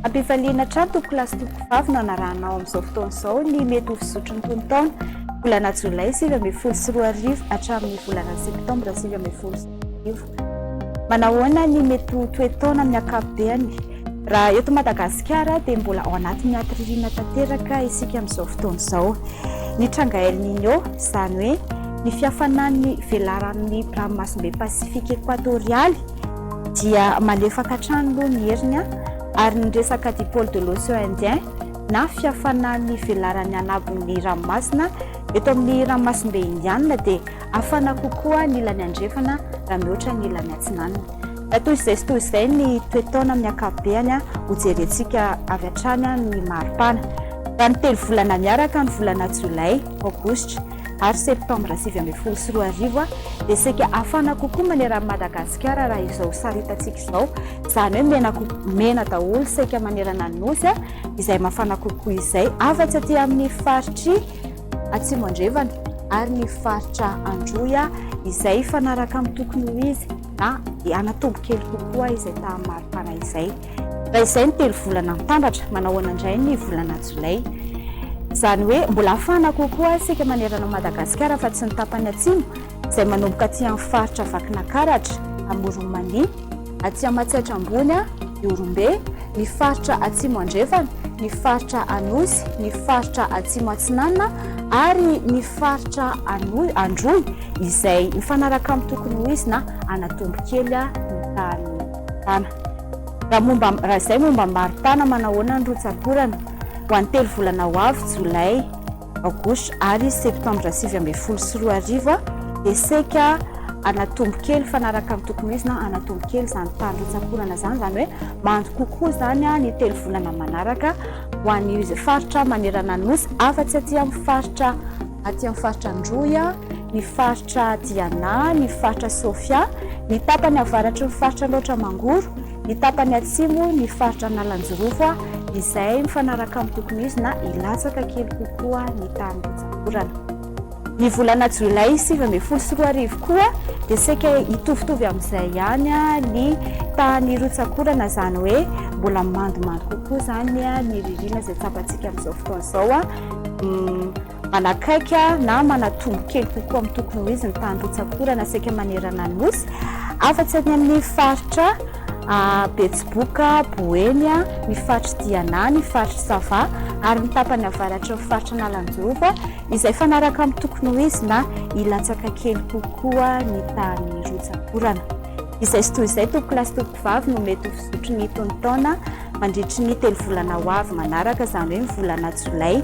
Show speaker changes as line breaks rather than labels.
Ampifaliana hatrany tompoko lahy sy tompoko vavy no anarahanao amin'izao fotoana izao ny mety ho fizotry ny tonon-taona volana jolay sivy ambin'ny folo sy roa arivo hatramin'ny volana septambra sivy ambin'ny folo sy roa arivo. Manahoana ny mety ho toe-taona amin'ny ankapobeny? Raha eto Madagasikara dia mbola ao anatin'ny aty ririnina tanteraka isika amin'izao fotoana izao. Ny tranga El Niño, izany hoe ny fihafanan'ny velaranon'ny ranomasimbe Pasifika ekoatorialy dia malefaka hatrany aloha ny heriny ary ny resaka dipole de l'océan Indien na fihafanan'ny velaran'ny anabon'ny ranomasina eto amin'ny ranomasimbe Indianina dia Hafana kokoa ny ilany andrefana raha mihoatra ny ilany atsinanana. Raha toy izay sy toy izay ny toe-taona amin'ny ankapobeny, hojerentsika avy hatrany ny maripana. Raha ny telo volana miaraka, ny volana Jolay, Aogositra ary Septambra sivy ambin'ny folo sy roa arivo, dia saika hafana kokoa manerana an'i Madagasikara raha izao sary hitantsika izao, izany hoe mena kokoa, mena daholo saika manerana ny Nosy, izay mafana kokoa izay, afa-tsy aty amin'ny faritr'i. Atsimo Andrevana ary ny faritra Androy izay hifanaraka amin'ny tokony ho izy na hanatombo kely kokoa izay tahan'ny maripana izay. Raha izay ny telo volana mitambatra, manahoana indray ny volana jolay? Izany hoe mbola hafana kokoa isika manerana Madagasikara fa tsy ny tapany atsimo izay manomboka aty amin'ny faritra Vakinakaratra, Amoron'i Mania, atsy Amatsiatra Ambony, Ihorombe, ny faritra Atsimo Andrefana, ny faritra Anosy, ny faritra Atsimo Atsinanana ary ny faritra Androy izay mifanaraka amin'ny tokony ho izy na anatombo kely ny tahan'ny tana. Raha momba raha izay momba ny mari-tana, manahoana ny rotsak'orana ho an'ny telo volana ho avy, Jolay? à gauche ary septambra sivy ambin'ny folo sy roa arivo dia saika hanatombo kely fanaraka ny tokony ho izy na hanatombo kely izany fandrotsam-ponana izany izany hoe mando kokoa izany ny telo volana manaraka ho an'io izay faritra manerana ny nosy afa-tsy aty amin'ny faritra aty amin'ny faritra Androy ny faritra Diana ny faritra Sofia ny tapany avaratry ny faritra Andraotra Mangoro ny tapany atsimo ny faritra Analanjirofo izay mifanaraka amin'ny tokony izy na hilatsaka kely kokoa ny tany Botsakorana. Ny volana jolay sivy ambin'ny folo sy roa arivo koa dia saika hitovitovy amin'izay ihany ny tany Rotsakorana izany hoe mbola mandomando kokoa izany ny ririnina izay tsapantsika amin'izao fotoana izao. Manakaiky na manatombo kely kokoa amin'ny tokony ho izy ny tany rotsak'orana saika manerana ny Nosy, afa-tsy any amin'ny faritra Betsiboka, Boeny, ny faritr'i Diana, ny faritr'i Sava ary ny tapany avaratry ny faritra Analanjova izay fanaraka amin'ny tokony ho izy na hilatsaka kely kokoa ny tany rotsak'orana. Izay sy toy izay, tompokolahy sy tompokovavy no mety ho fizotry ny tonontaona mandritry ny telo volana ho avy manaraka, izany hoe ny volana jolay.